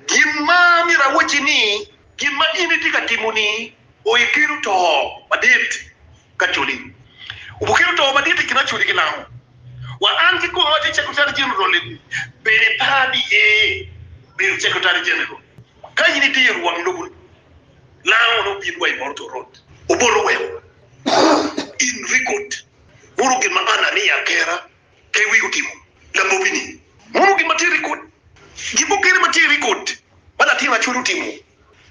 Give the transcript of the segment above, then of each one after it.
Gin ma myero awacci ni, gin ma in itye ka timo-ni oekelo to madit ka codi. Obukelo to madit i kin acodi ki lamo. Wa an kikoma atye Secretary General i bedo ipar ni iye bedo Secretary General ka in idiro wang lobo ni lamo nongo obin wa i Moroto Road oboto weko in record buru gin ma an aniya kera. Pe wigi otimo labobi-ni. Mono gin ma tye i rekod. Gin mukene ma tye i rekod ma latin Racel otimo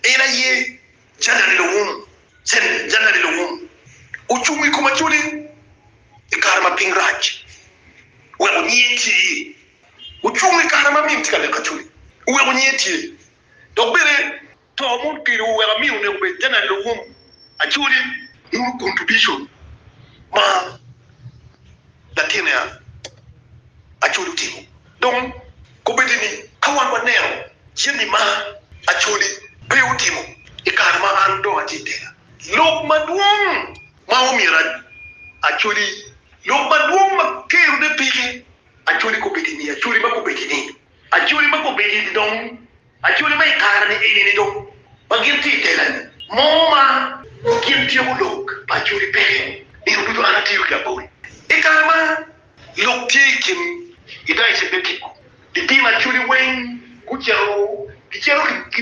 en aye, Janani Lowum, Sen. Janani Lowum ocung i kom ajole i kare ma piny rac oweko nyiye tye iye. Ocung i kare ma min tye ka leko ajole oweko nyiye tye dok bene. To mon pidowu wek ami oneko bed te neno wun acoli. Muru contribution ma latinne acoli otimo. Dong kobedi ni ka wan waneno jami ma acoli pe otimo i kare ma an dong atye i tela, lok madwong ma omyero acoli, lok madwong ma kerone peke acoli kobedi ni acoli ma kobedi ni. Acholi ma gubedo i dong acholi ma i kare-ni eni dong ma gin tye i tela-ni mo ma gin tyeko lok pa acholi peke. Nino ducu an atiyo ki abori. I kare ma lok tye i kin Idaya Cebekiko, lipim acholi weng gucito gicito ki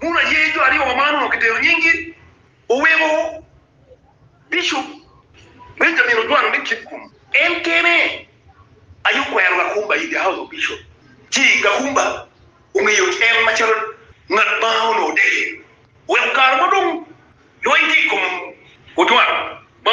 Bul aye jo aryo wa ma onongo kitero nyinggi oweko Bishop Benjamin Ojwang me Kitgum. En kene aye okwero Gakumba i The House of Bishop ci Gakumba ongeyo en macalo ngat ma onongo odeke oweko kare mo dong lweny tye i kom Ojwang ma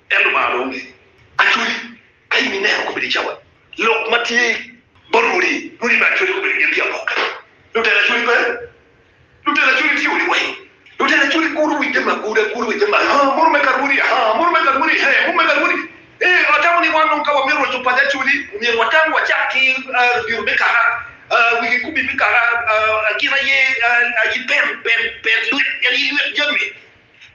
En Lubanga dong onge acholi, ka in ineno kobedo i cawa lok ma tye bot rwodi, rwodi me acholi kobedo gin ki apokke. Lutela acholi pe, lutela acholi tye odi weng, lutela acholi gudo wi jami aguda, gudo wi jami aa, munu me ka rwodi aa, munu me ka rwodi hee, munu me ka rwodi ee. Atamo ni wan dong ka wamito roco paco acholi, omyero watam wacak ki ladiro me kaka, wi kikubi me kaka, gin aye aye pen, pen, pen lwet, en aye lwet jami.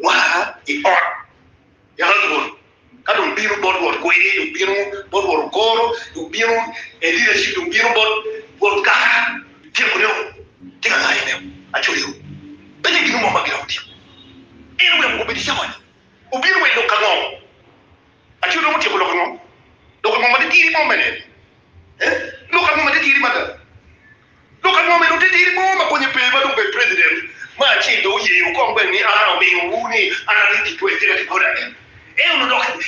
Wa i ot, yalo dwol. Ka dong bino bot won kwede, dong bino bot won okoro, dong bino e leadership, dong bino bot won kara. Tyeko nio tye ka ngayo nio acoyo pe tye gin mo ma giromo timo. En oweko koko bedi cawani obino wa i lok ango? Acoyo dong otyeko lok ango? Lok ango ma titidi mo mene? Lok ango ma titidi mada? Dok anongo bene otitidi mo ma konye pe ma dong obedo president ma acel dong oyeyo kong bene ni aa omiyo wu ni an aryeb ki twec tika kibona ni en onongo dok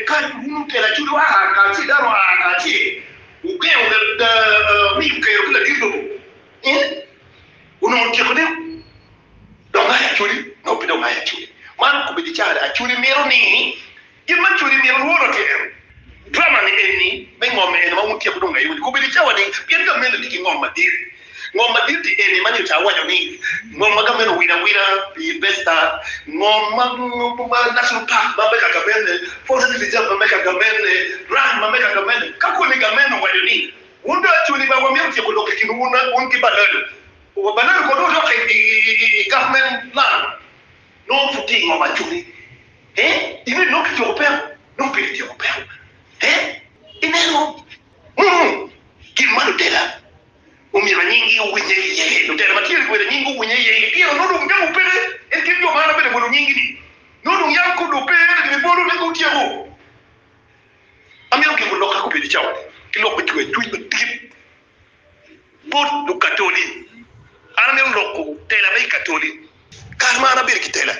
ka wun telo acudu aa kacel dano aa kacel wugengo miyo kero ki ladit lobo ni onongo otyeko ni dong aye acudi nongo pe dong aye acudi man okobedi caa ni acudi mito ni Gin ma codi mito lworo tye ene, Drama ni eni me ngom ni eni ma wun tyeko dong ngeye wun ikobedi cawa ni pien gameno ni ki ngom madit. Ngom madit ni eni ma nyo ca awaco ni ngom ma gameno win awina pi Investa, ngom ma National Park ma me ka gamene, Forest Reserve ma me ka gamene, Ranch ma me ka gamene. Ka koni gameno owaco ni wun dong acuni ba wamito tyeko lok i kinwu wun ki baleno, baleno kono odok i government land. Nongo pud tye i ngom ma aco ni, eh, in inongo kityeko peko? Nongo pe kityeko peko. Eh, ineno? Munu. Gin ma lutela omyero anyinggi owinye iye, lutela ma tye-ni myero anyinggi owinye iye, i pire nongo dong nyamo pe, en kit jo ma an abeda bolo nyinggi-ni, nongo dong yam kor dong pe, ento gin ibolo ni kong tyeko. Amito giko lok ka gubedo i cawa-ni, ki lok me cwer cwiny madit. Bot Lukatoli, An amito loko tela me i Katoli kare ma an abedo ki tela.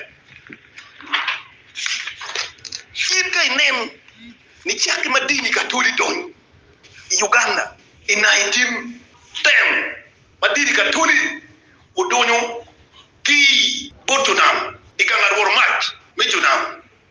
In ka inen ni cakke ma dini Katoli donyo i Uganda i 1910 ma dini Katoli odonyo ki bot jo nam i gang arworo mac me jo nam,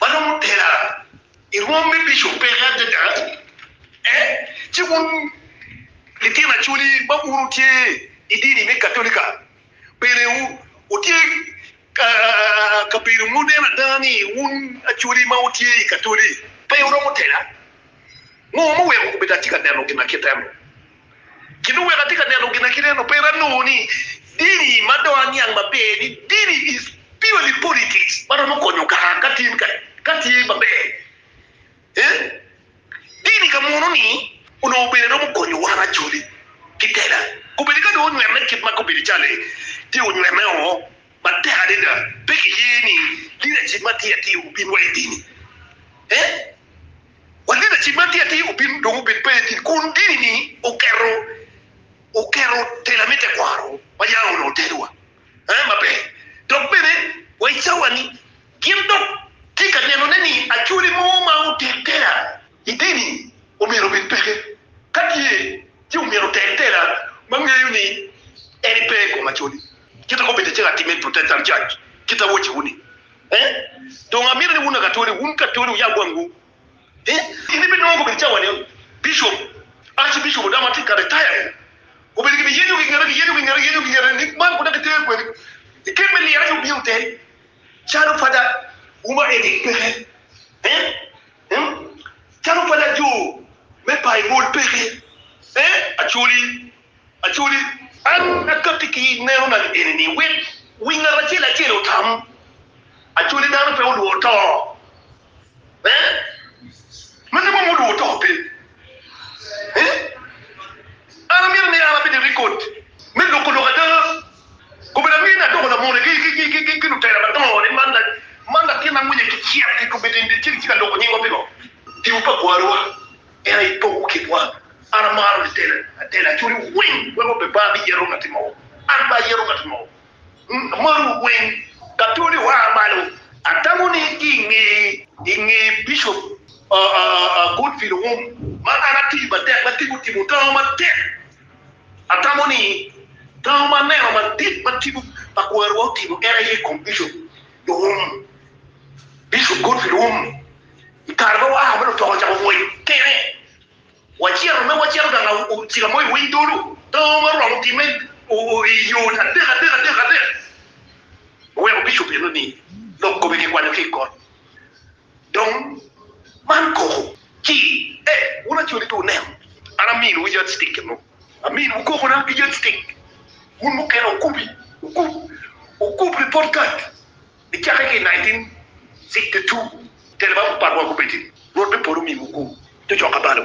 ma nongo otera i rwom me bico peke adada, ci wun litino acholi ma wun wutye i dini me Katolika bene wutye ka bedo muneno ada ni wun acholi ma wutye i Katoli pe wuromo tela? Ngo ma oweko kobedo atye ka neno gin ma kit eno? Gin oweko atye ka neno ginakite ento pe anongo ni dini ma dong aniang maber ni dini is purely politics ma romo konyo kara ka tye kare ka tye maber eeh dini ka muno ni onongo bene romo konyo wan Acholi ki tela kobedi ka dong onywene kit ma kobedi calo tye onywene oo matek adada pe kiye ni leadership ma tye atir obinwa idini eeh. Wa leadership man tye atir obin dong obed pele tin kun dini ni oketo oketo tela me tekwaro ma yam onongo otelo wa eh maber dok bene wa i cawa ni gin dok tye ka neno ne ni acholi mo ma otel tela i dini omyero obed peke ka tye ci omyero otel tela ma ngeyo ni en pe i kom acholi. Kit ma obedo acel atimme i Protestant Church, kit awocciwu-ni. Eh? Dong amito ni wun Akatoli, wun Katoli wuyab wangwu. Eh? In ibinongo gubedo cawa ni Bishop, Archbishop Odama tye ka retire-ri, obedo gibiyenyo gingete, giyenyo gingete, giyenyo gingete ni man kunda gitero kwede i kem me liro aye wubino teri calo Pada wu ma Eric peke. Eh? Hmm? Calo Pada jo me Baibul peke. Eh? Acholi. Acholi, an akakki ki neno na lieni ni, wek wi ngat acel acel otam. Acholi, dano pe olworo to. Ee, magi mom olworo to pe. Ee, an amito ni an abed i rikod me loko lok ada. Kobe na mine adoko lamone ki lutela madongo ni, Man, man latinna monyagi cek i kobe tyen dyecel, ci ka loko nyingwa pi ngo? Tibu pa gwarowa. In aye ipoko kitwa. An amaro litela atela cwiny wu weng wek obe bar me yero ngati mogo. An pe ayero ngati mogo. Amaro wu weng. Ka tuni oa malo, atamo ni ki i nge Bishop Godfrey Lungum ma an atiyo matek me tipo timo tango matek. Atamo ni tango ma aneno madit ma tipo pa kwarwa otimo en aye i kom Bishop. Luwum, Bishop Godfrey Luwum, i kare ma waa ma lutoko ocako ngwec kene, wacito ma wacito gang ocika mo i winy dulu, pe ongo oromo gin me i yo adek adek adek adek, oweko Bishop eno ni lok kome kikwanyo ki i kot. Dong man koko ci, ee, wun acoli pe wuneno, an aminuwu yardstick eno. Amin wukoko na ki yatstick wun mukene okubi okub okub report card ni cake ki 1962 telo ma patwa gubedi rwot me polo omiwu gu cocoka balo.